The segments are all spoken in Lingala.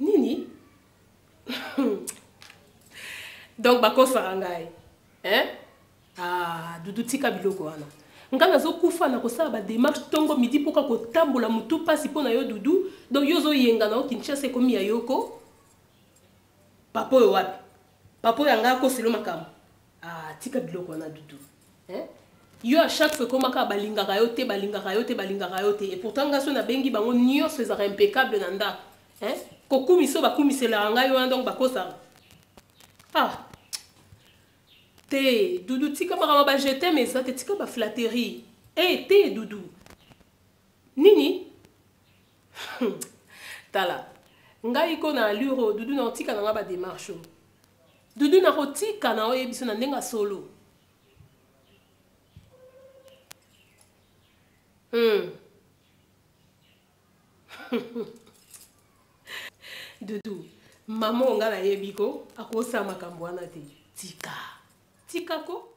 nini donc bakosaka ngai hein? ah, dudu tika biloko wana ngai nazokufa na kosala bademarche ntongo midi mpoka kotambola motu mpasi mpo na yo dudu donc yo ozoyengana o kinshasa ekomi ya yoko papa oyo wapi papa oyo anga akoselo makambo ah tika biloko wana dudu eh? yo à chaque fois ekomaka balingaka yo te balingaka yo te balingaka yo te et pourtant nga so nabengi bango nyonso ezalaka impeccable na ndako eh? kokumisa oyo bakumiselaka ngai wana donc bakosaka ah te dudu tika makambo ba je t'aime eza te tika baflatterie e eh, te dudu nini tala ngai ko na allure oyo dudu nakotika na ngai bademarche oyo dudu nakotika na oyo yebiso na ndenge solo hmm. dudu mama onga nayebi ko akosa makambo wana te tika tika ko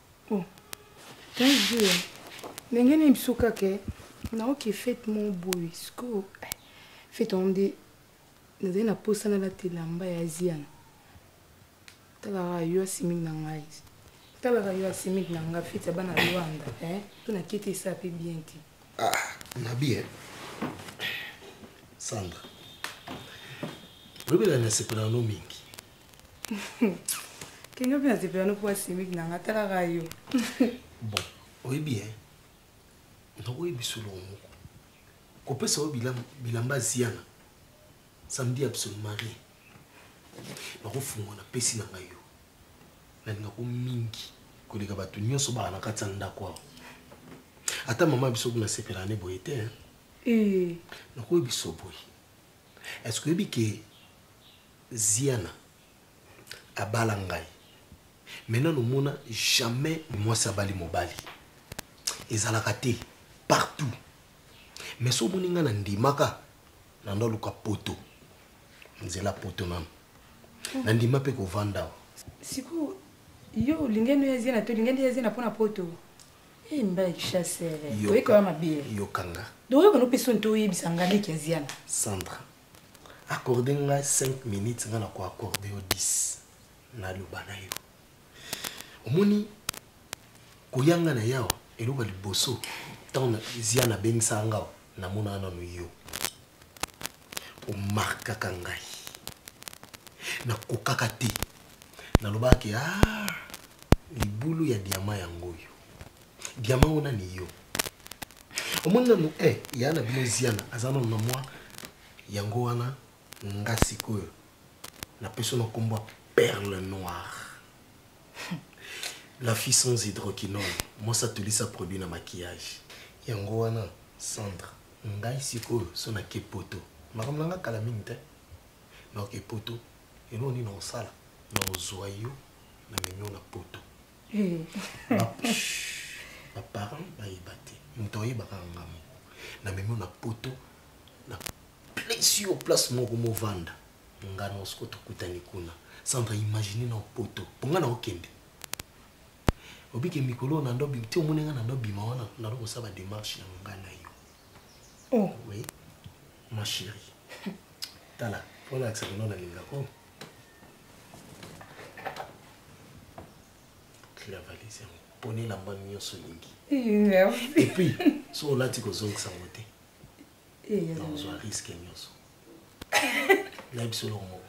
Oh. Tanzia, ndenge nini biso kaka eh? naoke fete mo boye sikoyo eh, fete yango nde nazali na mposa nalata elamba ya aziana talaka yo asimiki na ngai talaka yo asimiki na ngai fete ya bana lwanda eh? mpo na kete esa mpe bien te ah, nabi eh? sandra oyebela nasepela no mingi kenge mpe nasepela no mpo asimiki na nga atalaka yo bon oyebi e nakoyebi soloko moko kopesa yo bilamba ziana samedi absolument rien nakofungwa na pesi na ngai yo nalingako mingi koleka bato nyonso baa na kati ya ndako awa ata mama biso kuna sepela ne boye te eh. nakoyebi so boye est ce que oyebi ke Ziana abala ngai me nano mona jamais mwasi abali mobali ezalaka te partout me so omoni ngai na ndimaka nando aluka poto nzela poto nano na ndima mpe kovanda awa sikoyo yo olingani ya ziana to olingani ya ziana mpo na poto eh, mbala kichasere oyekaka mabe yokanga doyokana mpe soni to oyebisa ngai leki ya ziana sandra accorde nga 5 minutes nga na ko accorde yo 10 na loba na yo omoni koyanga na yawa eloko ya liboso ntango zia nabengisaka ngao namonaka nano yo omarkaka ngai nakokaka te nalobaka ke a ah, libulu ya diama yango oyo diama oyo nani yo omoni nanu e eh, ya na bino ziana aza nanu na mwa yango wana nga sikoyo napesi na nkombo ya perle noire la fille sans hydroquinone mwasi atulisa produit na maquillage yango wana centre ngai sikoyo so nake poto makambo na ngai kala mingi te naoke poto eloo nini osala na ozwa yo na memio na poto eh. baparent bayeba te moto ayebaka nga moko na memo na poto na place yo place moko movanda nga na osiko tokutani kuna sandra imagine na poto mpo nga na okende obike mikolo na ndo ti omoni nga na ndo bima wana na ndo kosala bademarche ya nga na yo oh. oui ma chérie tala mpo nalakisa kino nalingako la valise yango mpona elamba nyonso olingi epuis so olati kozongisa yango te ozwa riske nyonso nayebi solo moko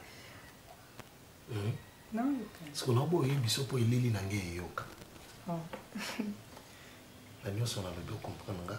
siko na obo oyebi biso mpo elili na ngai eyoka na nyonso nalobi okomprendre nga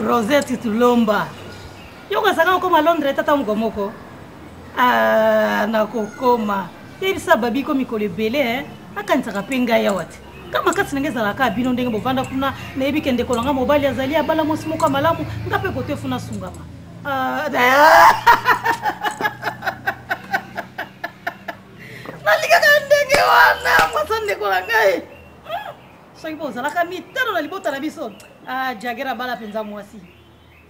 rosette tulomba yo okosaka kokoma londre tata moko moko ah, nakokoma yebisa babi ko mikolo ebele eh. akanisaka mpe ngai awa te ka makasi na ngai ezalaka bino ndenge bovanda kuna nayebi ke ndeko na ngai mobali azali abala mwasi moko ya malamu ngai mpe kote funa asungama Ah, nalingaka ndenge wana mwasa ndeko na ngai hmm. soki mpo ozalaka mitano na libota na biso ah, jagere abala mpenza mwasi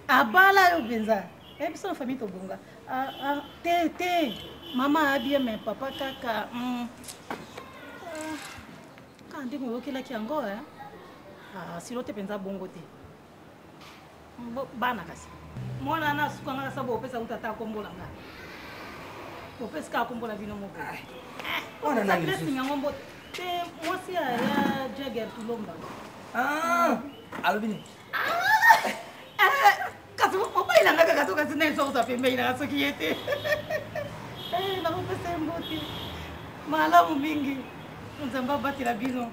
abala yo mpenza eh, biso na famille tobonga ah, te te mama abie me papa kaka hmm. ndenge oyokelaki yango eh? silo te mpenza bongo te bana kasi mwana wana asuka nga nasa bopesa kuta ata akombola nga bopesi kaka kombola bino moko blessing yango mbote te mwasi ya jager tulomba ah, alobi nini ah! eh, kasi mobayilanga kaka soki asi naye sokosa pembei nanga soki ye te eh, nakopesa ye mbote malamu mingi nzambe abatela bino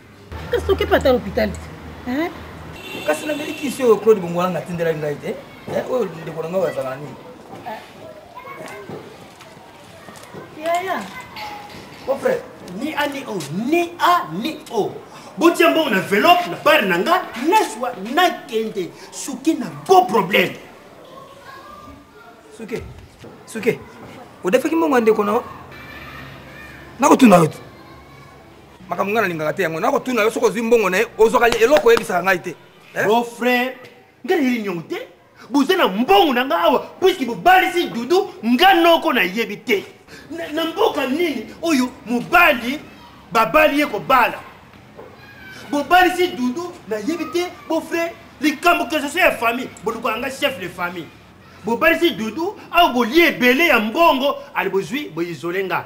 kasi tokepa ata lopital te kasi nameli kisi oyo claude bongolanga atindelaki ngai te oyo ndeko na ngai azalaka nini yaya o frère ni a ni o ni a ni o botia mbongo na velope na bare na nga nazwa nakende suki na beau problème suki suki odefaki mbongo ya ndeko na nakotuna yo te makambo ngai nalingaka te yango nakotuna yo soki ozwi mbongo na ye ozwaka eloko oyebisaka ngai te eh? bon frère ngai nayeli nyongo te boza na mbongo na ngai awa puiske bobalisi dudu nga noko nayebi te na mboka nini oyo mobali babali ye kobala bobalisi dudu nayebi te bofre likambo kesosio ya famille bolukwaka nga chef de famille bobalisi dudu awa bolie ebele ya mbongo ali bozwi boisole nga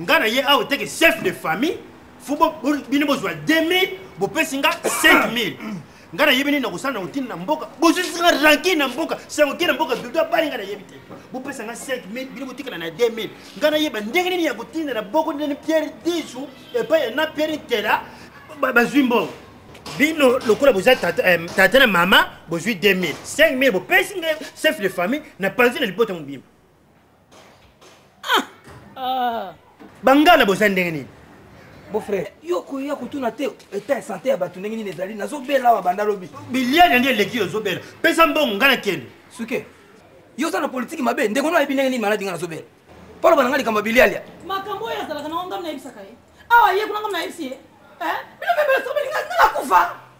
nga na ye awa teke chef de famille fo bino bozwa 2000 bopesi nga 5000 nga nayebi nini nakosala na kotina na mboka bozwisi nga ranki na mboka sango ke na mboka dodo abali nga nayebi te bopesa nga 5000 bino botikala na 2000 nga nayeba ndenge nini ya kotinda na boko ndeni pierre disu epai ya na pierre ntela bazwi mbongo bino lokola boza tata eh, na mama bozwi 2000 5000 bopesi nga chef de famille na panzi na libota mobimba ah, ah. bangana boza ndenge nini bofrère yo koya kotuna te etat ya sante ya bato ndenge nini ezali nazobela awa banda lobi biliane nde eleki yo ozobela pesa mbongo ngai nakende suke yo oza na politiki mabe ndeko no ayebi ndenge nini maladi ngai nazobela mpona bana ngai likambo ya bilialia makambo oyo azalaka nango ngai nayebisaka ye awa ye kuna ngai nayebisi ye eh? bino mpe besobelinga ngai nakufa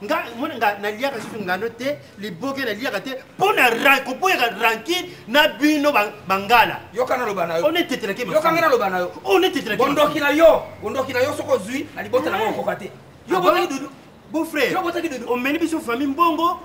nga mona nga naliaka susu ngano te liboke naliaka te mpo na koboyaka rankine na bino bangala yoka naloba na yo onetetelaki yoka nga naloba na yo onetetelaki bondoki na yo bondoki na yo soki ozwi na libota na ngo okoka te yo botaki dudu beau frère yo botaki dudu omeli biso famille mbongo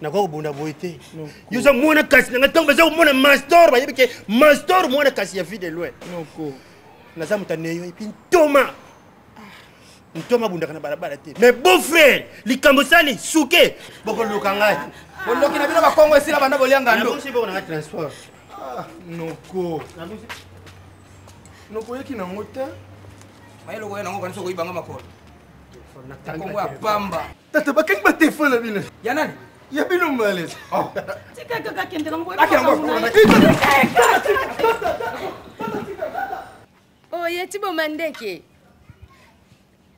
nakoki kobunda boye te yo oza mwana kasi na ngai ntango baza komona mastor bayebi ke mastor mwana kasi ya vie de loin naza moto aneyo epuis ntoma ntoma abundaka na balabala te mais beau frère likambo sali suke bokoluka ngai boloki na bino bakongo esila banda bolianga ndobokona transport ah, noko nokoyeki nango te bayeloko ye nango kanisa okoyibanga makolo nakongo ya pamba Tata bakangi ba téléphone na bino. Ya nani? Ya bino malaise. Oh. Tika kaka kende na ngoye. Akenda ngoye. Oh, ya tibo mandeke.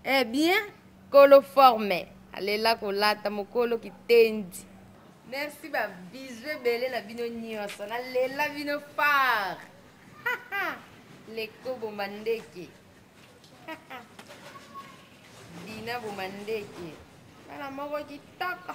Eh bien, kolo forme. Alela kolata mokolo kitendi. Merci ba bisous ebele na bino nyonso. Nalela bino fort. Les Kobo Mandeke. dina boma ndeke bana moko kitoko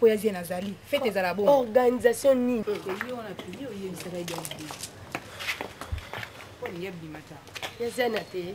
mpo ya zie nazali fete ezala bongo organisation nini ya ziana te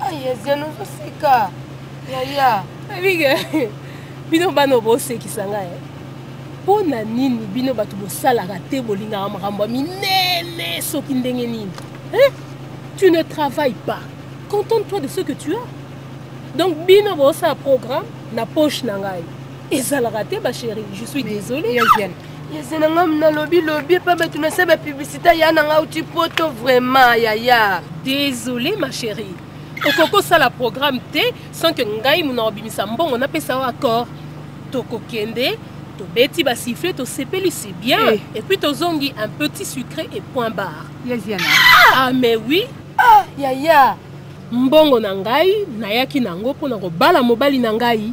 ayezeno zosika yaya abige bino bana bosekisa ngai eh. mpo na nini bino bato bosalaka te bolingaka makambo ya minene soki ndenge nini eh? tu ne travaille pas contente toi de ce que tu as donc bino bosala programme na poche na ngai ezalaka te ba chérie je suis désolé yeze na nga nalobi lobi epa bato na se bapublicité ya na nga uti poto vraiment yaya désolé ma chérie okoki kosala programme te sans que ngai mona obimisa mbongo napesa yo accord tokokende tobeti basifle tosepeli si bien hey. Eh. et puis tozongi un petit sucré et point barre yeziana ah mais oui ah yaya mbongo na ngai nayaki na yango mpo na kobala mobali na ngai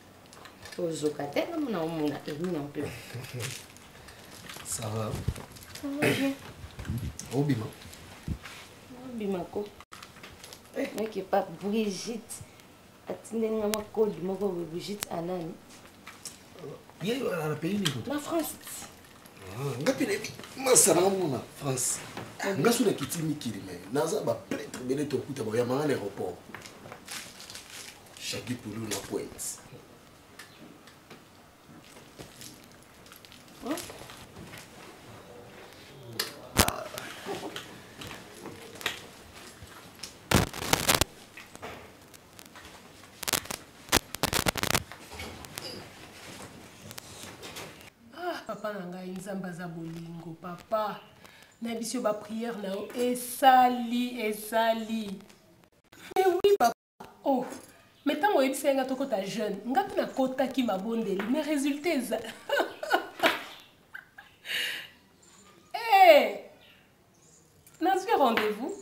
ozoka te namona omona emi na mpe ça va ça va bien obima obima ko eh. mec epa brigitte atindeli nga makodi moko boye brigitte anani ye na pays nini na france ah, nga mpe nayebi masala yango na france ah, nga so nakiti mikili me naza bapretre bele tokuta baoyamanga na aéroport Shaggy Pulu na pointe. papa na ngai nzambe aza bolingo papa na biso bapriere na yo esali esali mais oui papa oh me ntango oyebisaki nga tokota jeune nga mpe nakotaki mabondeli me résultat eza eh, nazwi rendez-vous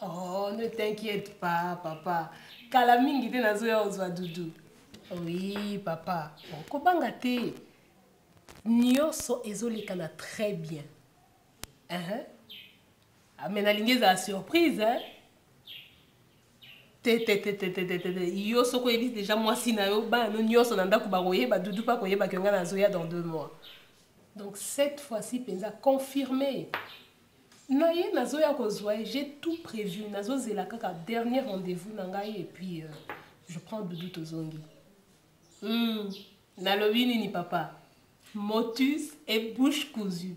oh ne t'inquiète pas papa kala mingi te nazoya ozwa dudu oui papa bon, kobanga te nyonso ezolekana très bien uh -huh. Ah, me nalingi ezala surprise hein? tetetetetetete yo soki oyebi deja mwasi na yo bana no nyonso na ndako bakoyeba dudu mpe akoyeba ke ngai nazoya dans deux mois donc cette fois-ci mpenza confirme na ye nazoya kozwa ye j'ai tout prévu nazozela kaka dernier rendez-vous na ngai et puis euh, je prends dudu tozongi mm, nalobi nini papa motus et bouche cousue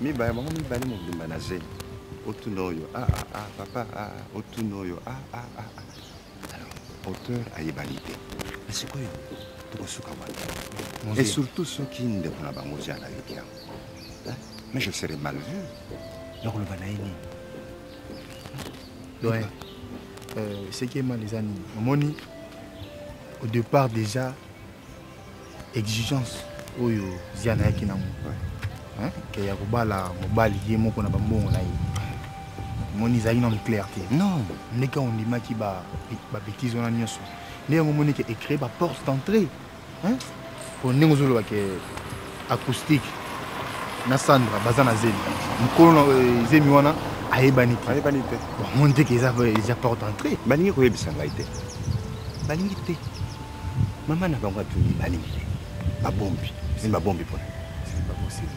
mibale bango mibale mobimba na zemi otuna oyo ah, ah, ah, papa otuna oyo auteur ayebani te na sikoyo tokosuka wana et surtout soki ndeko na bango ozi alayoki yango mais je serai mal vu nakoloba na ye nini doyen euh, seki emal eza nini omoni au départ déjà exigence oyo ziana ayaki nango ke ya kobala mobali ye moko na bambongo na ye omoni ezalaki nano clair te non ndenge ondimaki babetise wana nyonso nde yango omoni ke ecree baporte d'entrée po ndenge ozoloba ke acoustique na sandra baza na zemi mokolo na eh, zemi wana ayebani te ayebani te bamoni te ke eza eza porte entrée balingi koyebisa ngai te balingi te mama na bango atuni balingi te babombi zemi babombi mpona zemi baboseli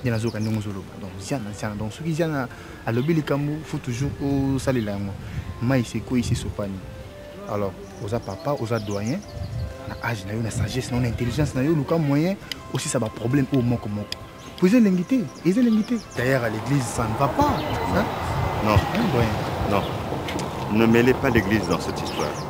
nde nazoyoka ndenge ozoloba donc ziana ziana donc soki ziana alobi likambo faut toujours osalela yango mai sekwei sesopani alors oza papa oza doyen na age na yo na sagesse na yo na intelligence na yo oluka moyen osisa baproblème oyo moko moko po eza elengi te eza elengi te d'ailleurs à l'église ça ne va pas hein? non hein, doyen non ne mêlez pas l'église dans cette histoire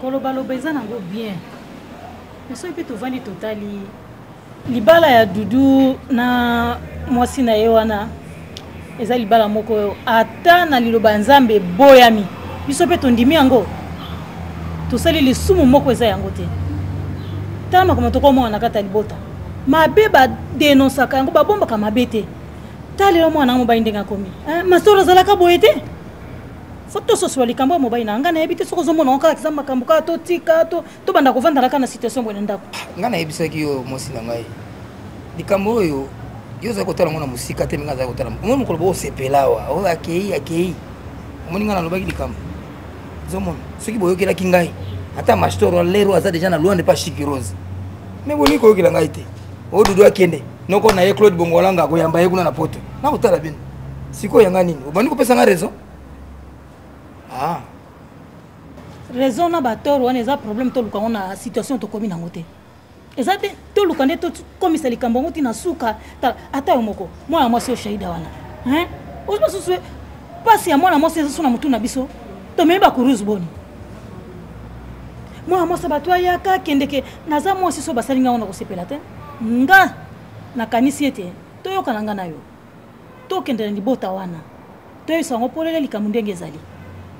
kolobaloba eza nango bien mais soki mpe tovandi totali libala ya dudu na mwasi na ye wana eza libala moko oyo ata na liloba ya nzambe eboyami biso mpe tondimi yango tosali lisumu moko eza yango te tala makambo tokomona na kati ya libota mabe badenonsaka yango babombaka mabe te ta lelo mwana yango mobali ndenge akomi eh, masolo azalaka boye te fo tososola likambo ya mobali na ngai nayebi te soki ozomona yango kaka kiza makambo kaka totika to tobanda kovanda kaka na situation boye na ndako ngai nayebisaki yo mwasi na ngai likambo oyo yo ozali kotala ngo na mosika te mingi azali kotala omoni mokolo boosepela awa oyo akei akei omoni ngai nalobaki likambo ozomona soki boyokelaki ngai ata mastor lero aza deja na luande pa shikirose me bolingi koyokela ngai te oyo dudu akende noko na ye claude bongolanga akoyamba ye kuna na poto nakotala bino sikoyo yanga nini obandi kopesa ngai raison ah. raison na batoro wana eza problème toluka yango na situation tokomi nango te eza te toluka nde tokomisa likambo yango ntina suka ata yo moko mwana mwasi oyo shaida wana ozo basusu mpasi ya mwana mwasi eza so na motu na biso tomemi bakuruse boni mwana mwasi bato ayaka akendeke naza mwasi so basali ngai yango na kosepela te nga nakanisi ete toyokana ngai na yo tokende na libota wana toyebisa yango polele likambo ndenge ezali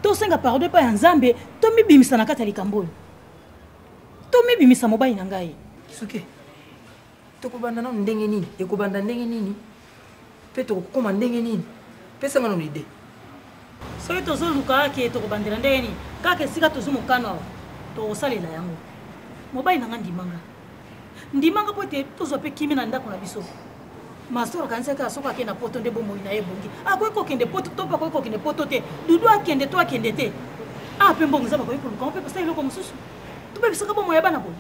tosenga pardon epai ya nzambe tomibimisa na kati ya likambo oyo tomibimisa mobali na ngai suke tokobanda nano ndenge nini ekobanda ndenge nini mpe tokokoma ndenge nini pesanga nano ide soki tozoluka ke tokobandela ndenge nini kaka esika tozwi mokano awa tokosalela yango mobali na nga ndimanga ndimanga mpo ete tozwa mpe kimi na ndako na biso masoro kanisaki kaka soki akende na poto nde bomoi na ye ebongi akoki kokende poto to mpe akoki kokende poto te dudu akende to akende te a ah, mpe mbongo eza bakoki koluka mpe basala eloko mosusu tobebisaka bomoi ya bana boye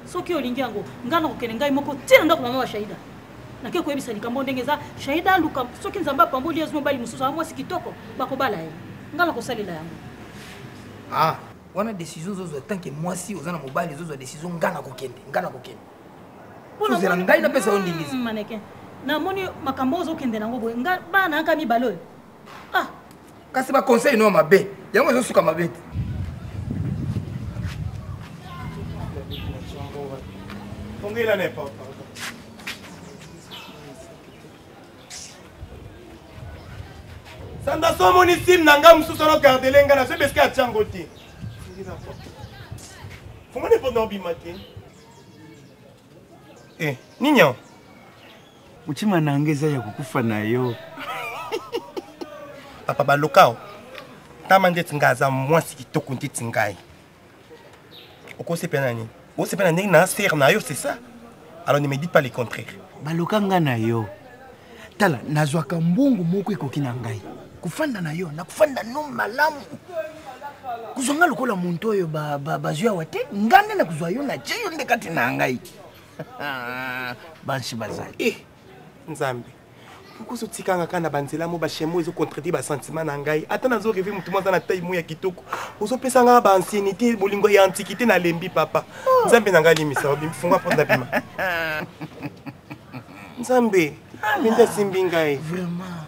soki olingi yango ngai nakokende ngai moko ntina ndako mama bashaida nake koyebisa likambo ndenge eza shaida aluka soki nzambe apamboli azwi mobali mosusu aa mwasi kitoko bakobala ye ngai nakosalela yango ah wana décision ozozwa tant que mwasi oza na mobali ozozwa décision ngai nakokende ngai nakokende ozela ngai napesa yo ndingisi hmm, maneke namoni makambo ozokende nango boye ngai bana yaka mibale oyo ah kasi ba conseil no mabe yango ezo suka mabe te ongela ne papa sanda so omoni sim na ngai mosusu ono gardele ngai nazo beske atya yango te fungani mpo na obima te eh, nini yango Mutima nanga eza ya kokufa na yo. Papa Balokao, tama ndeti ngai aza mwasi kitoko ndeti ngai. Okosepela na nini? Osepela ndenge na sere na yo, c'est ça? Alors ne me dites pas le contraire. Baloka ngai na yo. Tala, nazwaka mbongo moko ekoki na ngai. Kofanda na yo, nakofanda no malamu. Kuzwa ngai lokola muntu oyo bazwi ba, ba awa te, ngai nde nakozwa yo na tie yo nde kati na ngai. Ah, bansi bazali eh, nzambe okoso otikanga kaka na banzela mo bachemo ezo contredire basentiment na ngai ata nazo reve motu mo aza na tai mo ya kitoko ozopesa ngai baancienité bolingo ya antiquité nalembi papa oh. nzambe na ngai alimisa funga porte na bima nzambe mende asimbi ngai vraiment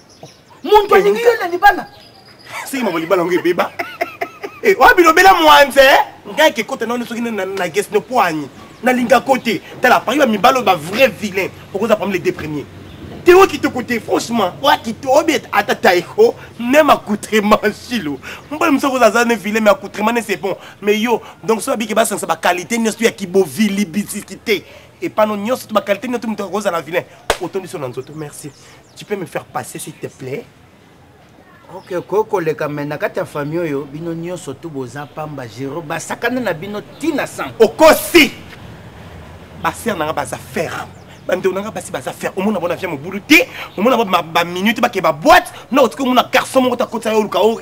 muntu alingi yo na libala soki mama libala yango ebeba eh, oyo bilobela mwanze eh? ngai kekota nano soki na gesi nopoani nalinga ko te tala pari ba mibala oyo ba vrai vilain okoza parmi les deux premiers te oyo kitoko te franchement oya kito obi ata taiko même accoutrement silo mbala mosu akoza aza ne vilain mais accoutrement ne c'est bon mais yo donc soki abiki basangisa baqualité nyonso ya kibovilibisiki te epano nyonso to baqualité nyonso moto akozala vilain otondisi yo na nzoto merci tu peux me faire passer s'il te plaît ok okoki koleka me na kati ya famille oyo bino nyonso tu boza pamba gero basakana na bino ti na sang okosi basere na nga baza ferme bandeko na nga basi baza ferme omona bona via mobulu te omona baminute bakee baboite na otiki omona garçon moko takotisa yo oluka o oh,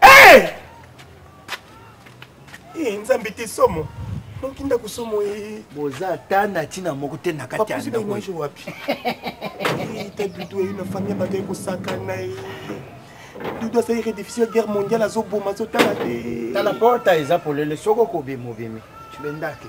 Eh! Eh, nzambe te somo noki ndako somo ye boza ata na ntina moko te na kati ya ndakoimage wapi eh, ta dudu eyo na famille ya bato ekosakana ye dudu asali redefisio ya guerre mondiale azoboma azotala te tala porta eza polele soko kobima obimi cibendake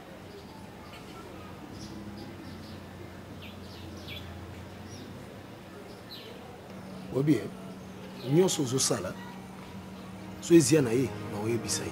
oyebi ye nyonso ozosala so ezia na ye na oyebisa ye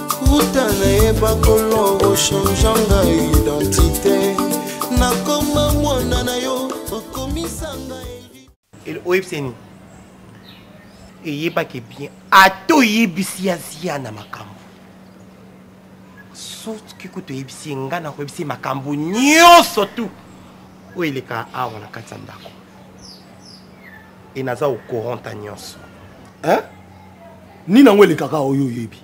uta nayeba kolo ochange nga identité nakoma mwana na yo okomisa nga oyebiseni eyebaki bien ata oyebisi ya zia na makambo soki kutu oyebisi ye ngai nakoyebisi ye makambo nyonso tu oyo eleka awa na kati ya ndako e naza okoranta nyonso nini yango elekaka oyo oyebi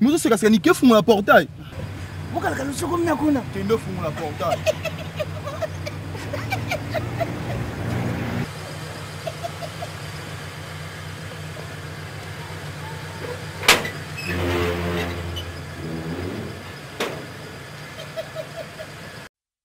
Muzo seka seka nike fungola portail. Bokala kala soko mna kuna. Kendo fungola portail.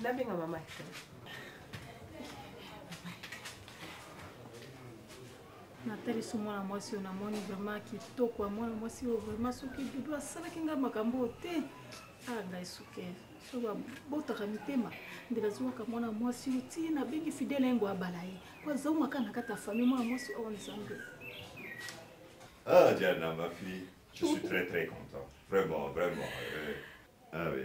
nabenga mama natalisi mwana mwasi oyo namoni vraiment kitoko ya mwana mwasi oyo vraiment soki dudu asalaki ngai makambo oyo te aa ah, ngai suke so babotaka mitema nde nazwaka mwana mwasi oyo ti nabengi fidele yango abala ye po azaumaka na kati ya famille mwana mwasi oyo oh, nzambe Ah, Diana, ma fille, je suis très très content. Vraiment, vraiment. Euh... Ah oui.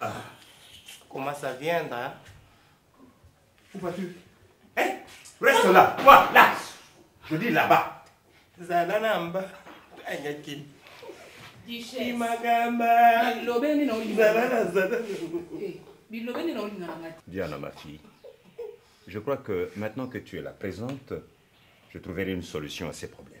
Ah. Comment ça viendra hein? Où vas-tu Hé eh, Reste là Quoi Là Je dis là-bas Zala namba Anya Kim Imagamba Bilobe nina olinga Zala na zala eh, Bilobe nina olinga na mati Diana ma fille Je crois que maintenant que tu es là présente, je trouverai une solution à ces problèmes.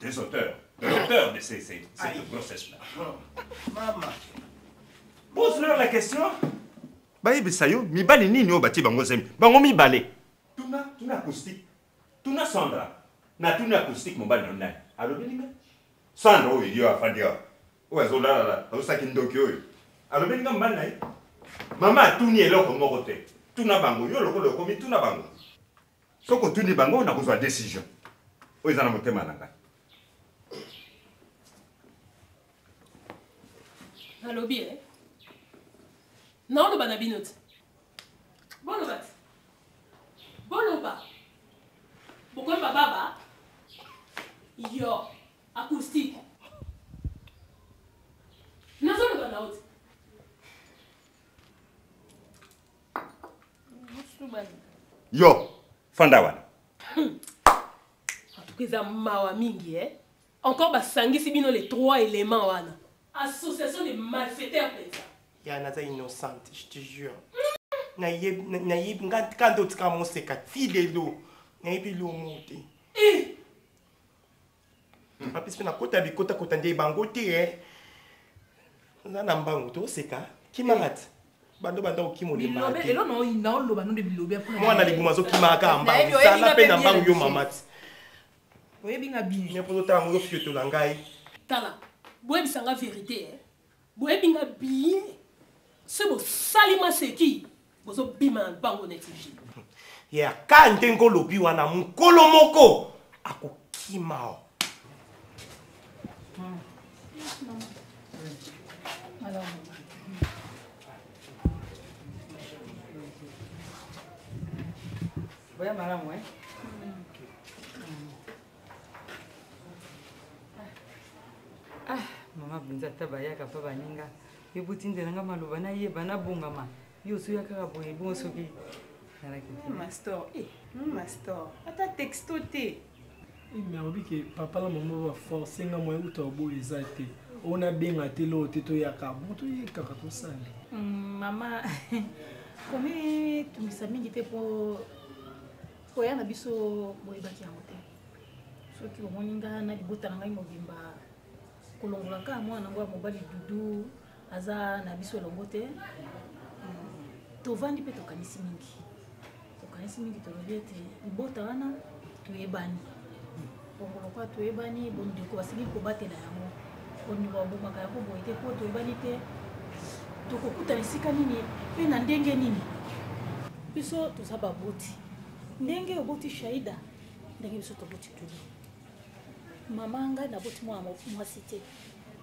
des auteurs, de l'auteur de ces, ces, cette grossesse-là. Maman. Pose-leur la question. bayebisa yo mibali nini oyo batie bango zemi bango mibale tuna tuna acoustique tuna sandra na tuna acoustique mobali na nani alobi ninga sandra oyo yo afandi awa oyo azolalala azosaki ndoki oyo alobi ninga mobali na ye mama atuni eloko moko te tuna bango yo lokola okomi tuna bango soki otuni bango nakozwa decision oyo eza na motema na ngai nalobi e naoloba na bino te boloba te boloba bokoyeba baba yo acoustique nazoloba na yo te yo fanda wana antuka eza mawa mingi e encore basangisi bino les trois éléments wana association de malfaiteurs mpenza ya naza innocente je te jure nayebi nga kanda otika moseka ti lelo nayebi lomo te eh! apesi mpe nakota bikotakota nde bango te eh. na na mbangu toseka kimarate eh. bando banda okima olembaamwana libuma azokima kaka eh, mbangu zala mpe na mbangu yo mama te oyebi nga bini mpo totala ngo fiotola ngai tala boyebisa nga verité eh. Boyebi nga bien. Se bosali maseki bozo bima na bango neti vie. Ya ka ndenge olobi wana mukolo moko akokima o. Hmm. Alors. Voy a Maramue. ah, mama bunza ata bayaka mpa baninga yo botindela nga maloba nayeba nabongama yo osoya kaka boye bongo soki nalakimastor eh, mastor eh, ata texto te eh, mais alobi ke papa na mama baforce nga moye uta oboyo eza te oyo nabenga te loo te toyaka bon toyekaka tosali mm, mama komi tungisa mingi te mpo koya na biso boyebaki yango te soki omoni nga na libota na ngai mobimba kolongola kaka mwana yango ya mobali dudu aza na biso elongo te hmm, tovandi mpe tokanisi mingi tokanisi mingi tolobi ete libota wana toyebani bongo lokola toyebani bondeko basengeli kobatela yango bondeko babomaka yango boye te mpo toyebani te tokokutana esika nini mpe na ndenge nini biso toza baboti ndenge oboti shaida ndenge biso toboti tuli mama ngai naboti mwana mwasi te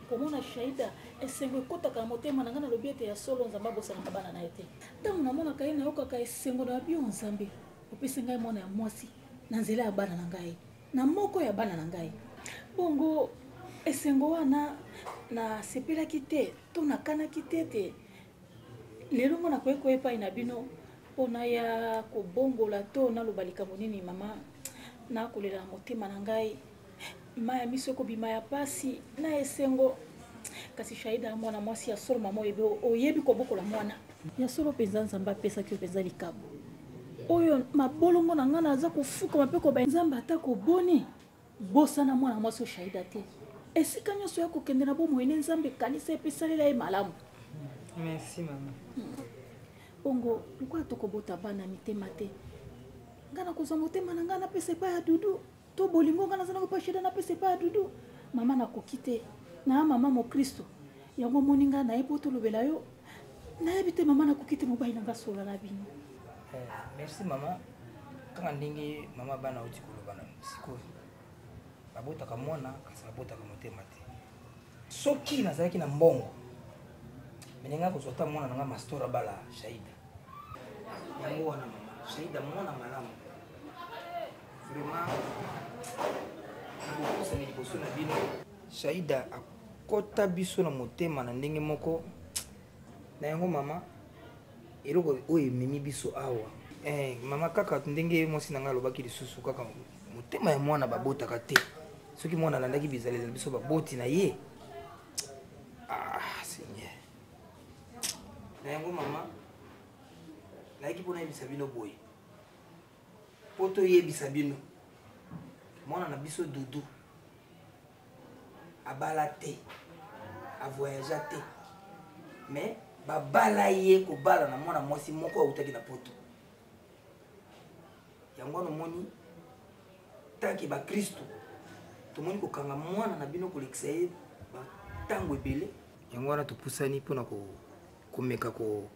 komona shaida esengo ekotaka na motema na ngai nalobi ete ya solo nzambe abosanaka bana na ye te ntango namonaka ye nayokaka esengo na babio nzambe opesi ngai mwana ya mwasi na nzela ya bana na ngai na moko ya bana na ngai bongo esengo wana nasepelaki te to nakanaki te ete lelo ngo nakoki koya epai na bino mpo naya kobongola to naloba likambo nini mama nakolela motema na ngai maya miso ekobima ya pasi na esengo kasi shaida ya mwana mwasi ya solo mama oyebi oyebi kobokola mwana ya solo mpenza nzambe apesaki yo mpenza likabo oyo mabolongo na ngai naza kofukama mpe koba nzambe ata koboni bosana mwana mwasi oyo shaida te esika nyonso ya kokende na bomoi ne nzambe ekanisa epe esalela ye malamu merci mama hmm. bongo lokola tokobota bana mitema te ngai nakozwa motema na ngai napesa epai ya dudu to bolingo nga naza nango pasheda napesa epai ya dudu mama nakoki te naa mama mokristo yango omoni nga naye mpo tolobela yo nayebi te mama nakoki te mobali na nga solola na bino eh, merci mama kaka ndenge mama bana oti koloba na sikoyo babotaka mwana kasi babotaka motema te soki nazalaki na mbongo meninga kozwa ta mwana na nga mastora bala shaida yango wana mama shaida mwana malamu vraiment nakopusani liboso na bino shaida akota biso na motema na ndenge moko na yango mama eloko oyo ememi biso awa eh, mama kaka ndenge mwasi na ngai alobaki lisusu kaka motema ya mwana babotaka te soki mwana alandaki bizalela biso baboti na ye ah, seigneur na yango mama nayaki mpo nayebisa bino boye mpo toyebisa bino mwana na biso dudu abala te avoyagea te mais babala ye kobala na mwana mwasi moko autaki na poto yango wana omoni tanke bakristu tomoni kokanga mwana na bino kolekisa ye ntango ebele yango wana topusani mpona komeka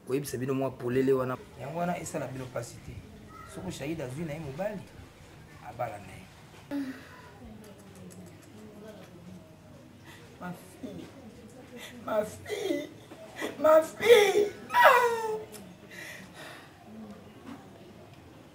koyebisa bino mwa polele wana yango wana esala bino mpasi te soko shahid azwi na ye mobali abala na ye ma fille ma fille ma fille ah!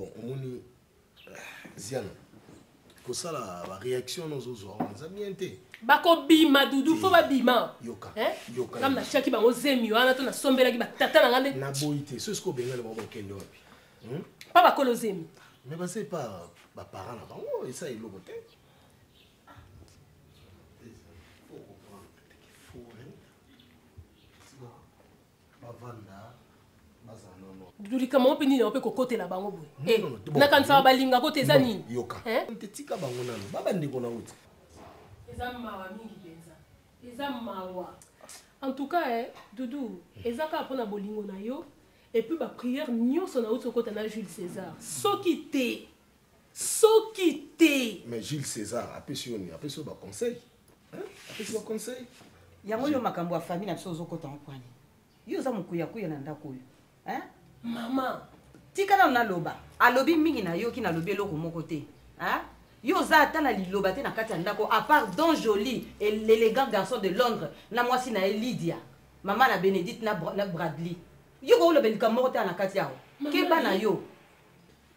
bon omoni ziana kosala baréaction nozozwa wana eza bien te bakobima dudu fo babima yokaam natiaki bango zemi wana to nasombelaki batata na nga nde naboyi te soki soki obengani bango bakende wapi hmm? pa bakolo zemi mais base pa baparent na bango esa eloko te dudu likambo yango mpe nini yango mpe kokotela bango boye eh, nakanisaka balingako te eza nini yoka eh? tika bango nano ba bandeko nango te eza mawa mingi mpenza eza mawa en tout cas eh, dudu eza kaka mpo na bolingo na yo epuis bapriere nyonso nauti okota na jules césar soki te soki te mais jules césar apesi yo nini apesi yo baconseil yango yo makambo ya famille na biso ozokota mopwani yo oza mokuyakuya na ndako oyo mama tika nano naloba alobi mingi nayoki nalobi eloko moko te yo oza ata na liloba te na kati ya ndako apart don joli l'élégant garçon de londres na mwasi na ye lydia mama na bénédicte na, na bradley yo kooloba likambo moko te na kati yao keba na yo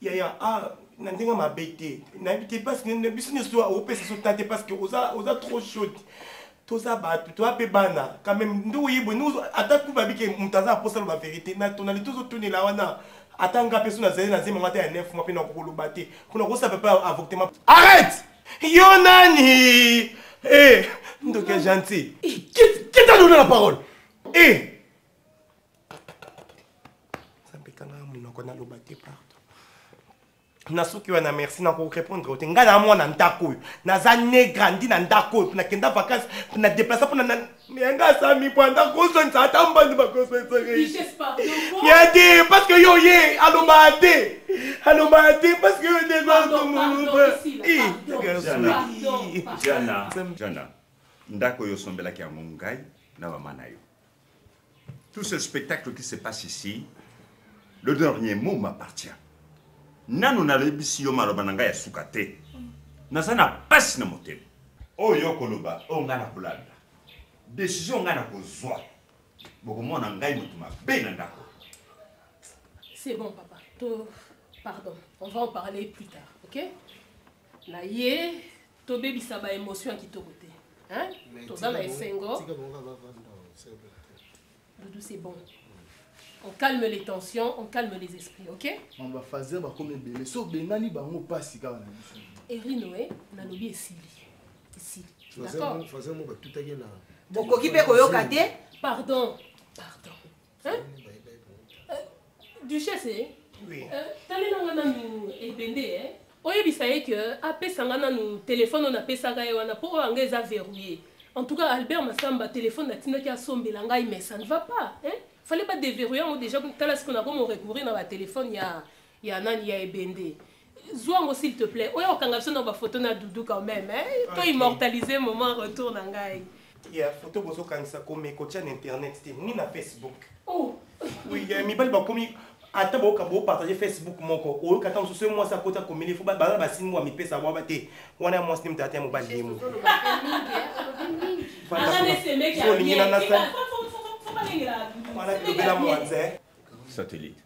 yaya ah, na ndenge mabe te nayebi te parce que biso nyonso opesa so ta te parce que oza, oza trop chaude toza bato toza mpe bana quand même nde oyebwe ata ku babike moto aza aposa loba verité na tonali tozotunela wana ata nga mpe so nazali na nzemba ngata ya 9 mwa mpe na kokoloba te mpona kosa pepe avoctement arrête yo nani eh, ndoki ya gentil kita lona la parole eh. nzambe kanga monoko naloba te partout na suki wana merci na korepondre te ngai na mwana ndako oyo naza ne grandi na ndako oyo mpona kenda vacance mpona deplace mpona na yanga asami bwanda kozongisa ata mbandi bakosongisa te parce que yo ye alobaa te alobaa te parce que yo ndeaaa ndako oyo osombelaki yango ngai na mama na yo Tout ce spectacle qui se passe ici, le dernier mot m'appartient. nanu nalebisi yo maloba na ngai ya suka te naza na mpasi na motema oyo okoloba oyo ngai nakolanda desizio ngai nakozwa bokomona ngai moto mabe na ndako c'est bon papa to pardon on va en parler plus tard ok na ye tobebisa ba émotion ya kitoko te toza na esengo doudou c'est bon on calme les tensions on calme les esprits ok mamba fazer bakomi ebele so obengani bango mpasi kaka na biso erino e nalobi esili esili d'accord okoki mpe koyoka te pardon pardon duchesse eh? oui. euh, talela nga nanu ebende eh? oyebisa ye ke apesa nga nanu telefone oyo napesaka ye wana mpo oyo anga eza verrouille en tout cas albert masamba telefone natindaki asombela ngai mais ça ne va pas eh? fallait badeverrouille yango déjà tala siko nakomo recourir na batelefone ya ya nani ya ebende zwa yango s'il te plaît oya kokanga biso na bafoto na dudu quand même eh? to immortalise moment retour na ngai ya foto bozokangisa kome kotya na internet te ni na facebook oh. oui, eh, mibali bakomi ata boyoka bopartage facebook moko oyoka ata mosusu ye mwasi akoti akomeli fo baza basini wa mipesa bwaba te wana ya mwasi nde moto ata ya mobali ye mo olingi na nasali wana bilobela mwanze satellite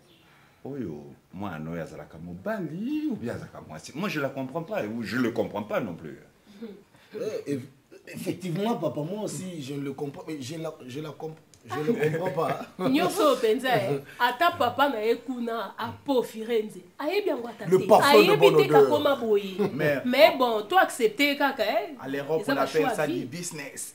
oyo mwana oyo azalaka mobali ou bien azalaka mwasi moi je la comprends pas ou je le comprends pas non plus eh, effectivement papa moi aussi je le comprends je la, je la comprends je ne comprends pas nyonso oyo mpenza ye ata papa na ye kuna apofire nze ayebi yango ata te ayebi te kakoma boye mais bon to accepte kaka eh. eza bachoix vie business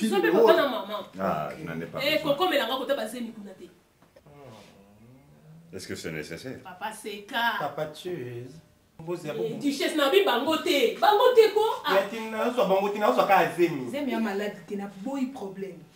Zobe papa na maman. Ah, je n'en ai pas. Eh, koko melanga kota bazemi kuna te. Est-ce que c'est nécessaire? Papa Seka. Papa Cheese. Eh, duchesse na bi bango te bango te ko ah. ya tina azwa bango tina azwa kaka zemi zemi ya maladi te na boyi problème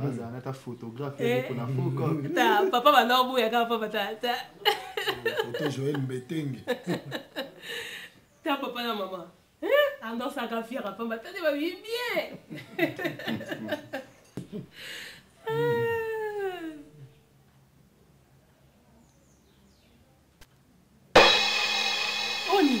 azala nata photographe eh. pona fokta papa banda oboya kaka papa tata foto joel mbetenge ta papa na mama andosaka fiera pamba tande babi bien oni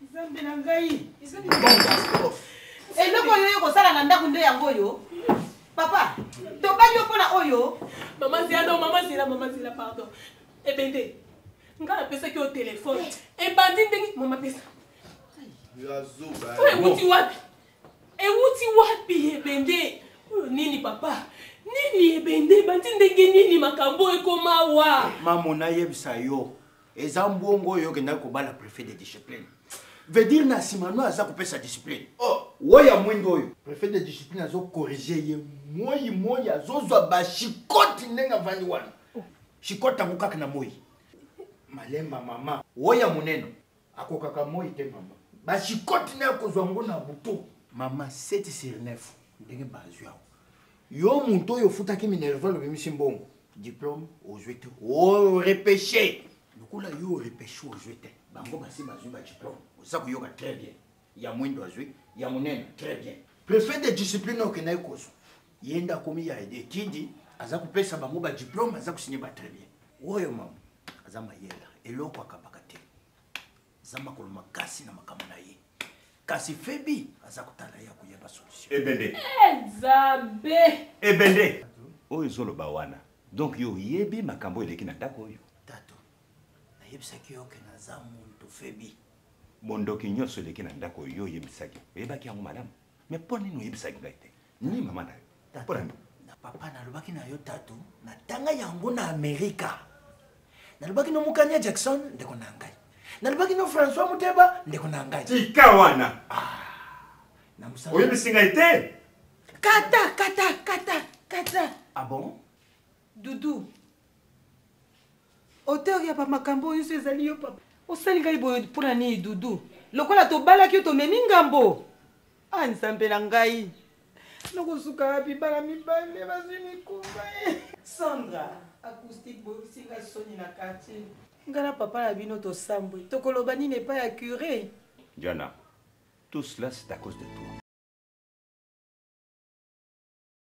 nzambe na ngai eloko oyo yo kosala na ndako nde yango oyo papa tobangi yo mpona oyo mama zela no mama zela mama zela pardon ebende ngai napesaki yo telefone ebandi ndenge mama pesa oyo ewuti wapi ewuti wapi ebende oyo nini papa nini ebende ebandi ndenge nini makambo ekoma wa mamo nayebisa yo eza mbongo oyo okendaki kobala prefet de discipline veut dire na nsima no aza kopesa discipline oh. woya mwindo oyo prefet de discipline azokorrige ye moi moi azozwa bashikoti ndenge avandi wana shikoti yango kaka na moi malemba mama woya monene akokaka moi te mama bashikoti naye akozwa yango na buto mama 7 sur 9 ndenge bazwi yango Yo moto oyo ofutaki Minerval obimisi mbongo. Diplôme ozwi te. O repêche. Lokola yo repêche ozwi te. Bango basi bazwi ba diplôme. Oza koyoka très bien. Ya mwindo azwi, ya monene très bien. Prefet de discipline okendaki kozwa. Ye nde akomi ya etidi, aza kopesa bango ba diplôme, aza kosinye ba très bien. Oyo mama aza mayela, eloko akabaka te. aza makolo makasi na makambo na ye kasi febi aza kotala ye akoyeba solution ebende ezabe ebende oyo ezoloba wana donc yo oyebi makambo eleki na ndako oyo tato nayebisaki yo ke naza muntu febi bondoki nyonso eleki na ndako oyo oyebisaki oyebaki yango malamu me mpo nini oyebisaki ngai te ni mama na yo mpo na nini na papa nalobaki na yo tatu natanga yango na amerika nalobaki no mokania jackson ndeko na ngai nalobaki no françois muteba ndeko na ngai tika wana ah, oyebisi ngai te kata kata kata kata ah bon Doudou. Auteur ya ba makambo oyo ezali yo papa. Osali ngai boye mpo na nini Doudou? Lokola tobalaki yo tomemi ngambo. Ah nzambe na ngai. Nakosuka wapi bana mibale bazwi mikumba. Eh. Sandra, acoustique boyokisi ngai soni na quartier. Ngai na papa na bino tosambwe. Tokoloba nini epai ya curé? Jana, tout cela c'est à cause de toi.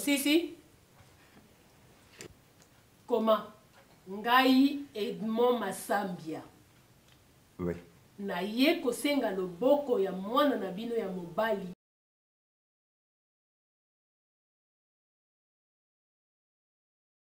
osisi koma ngai edmond masambia oui. naye kosenga loboko ya mwana na bino ya mobali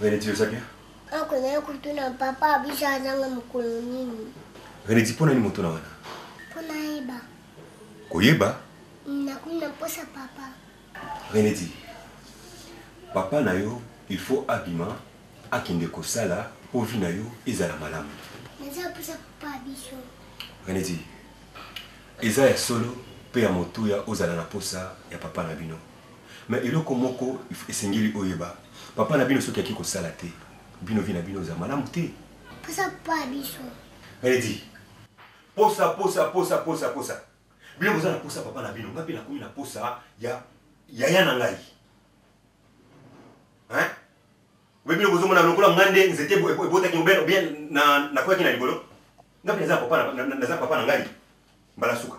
René ti oza bien ako na kutuna papa abisa azanga mokolo nini René ti pona ni motuna wana pona yeba koyeba nakuna posa papa René ti papa na yo il faut abima akende kosala po vie na yo ezala malamu naza posa papa biso René ti eza ya solo pe ya motuya ozala na posa ya papa na bino Mais eloko moko esengeli oyeba papa na bino soki ake kosala te bino vie na bino eza malamu te. Posa pa biso. Melody. Posa posa posa posa posa. Bino boza na posa papa na bino nga pe nakomi na posa ya yaya na ngai. Hein? Obe bino bozo mona lokola nga nde nzete ebotaki obel bien na na kwaki na libolo. Nga pe naza papa na naza papa na ngai. Mbala suka.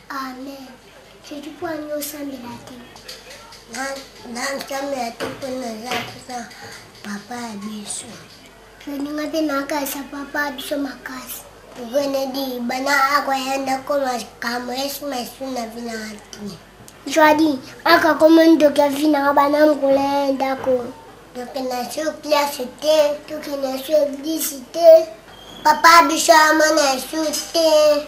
Amen. Soki mpo ani osambela te. Nasambela te mpo naza kaka papa ya biso. Tolinga mpe nakasa papa ya biso makasi. Venedi bana akoya ndako makambo yesu masu na vina ati. Joadi akakoma ndoki ya vina nga bana mokolo ya ndako. Tokenda so klase te. Tokenda so eglise te. Papa biso amona yesu te.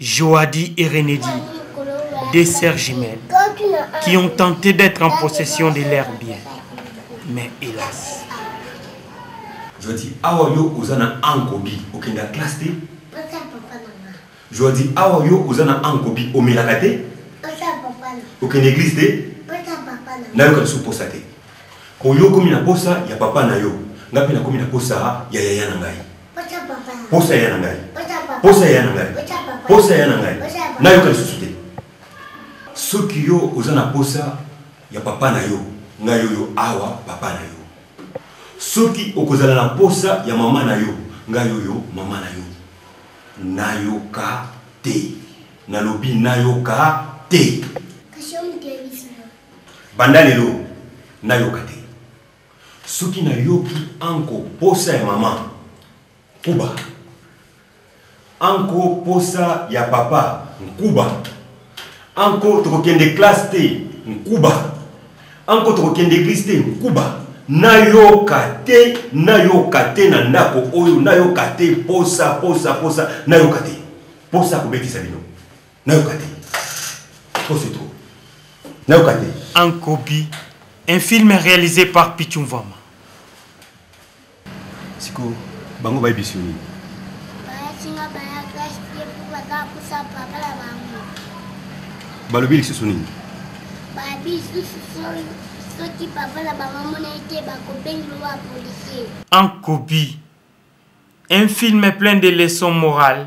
Joadi et Renedi, deux sœurs jumelles, qui ont tenté d'être en possession de leurs biens. Mais hélas. Joadi, awa yo ozana ankobi, okenda classe te. Joadi, awa yo ozana ankobi, omelaka te. Okenda église te. Nayoka lisusu posa te. Koyo komi na posa ya papa na yo, ngai mpe nakomi na posa ya yaya na ngai. posa ya na ngai posa ya na ngai posa ya na ngai nayoka lisusu te soki yo oza na posa ya papa na yo ngai oyo awa papa na yo soki okozala na posa ya mama na yo ngai oyo mama na yo nayoka te nalobi nayoka te banda lelo nayoka te Soki na yoki anko posa ya mama kuba anko posa ya papa nkuba anko tokokende classe te nkuba anko tokokende eglise te nkuba nayoka te nayoka te na ndako oyo nayoka te posa posa posa nayoka te posa kobetisa bino nayoka te trop c'est trop nayoka te en copie un film réalisé par pichu mvama siko bango bayebisi yo nini balobi lisusu nini soki papa na bango amonaki te bakobengelo wa policier en copie un film plein de leçons morales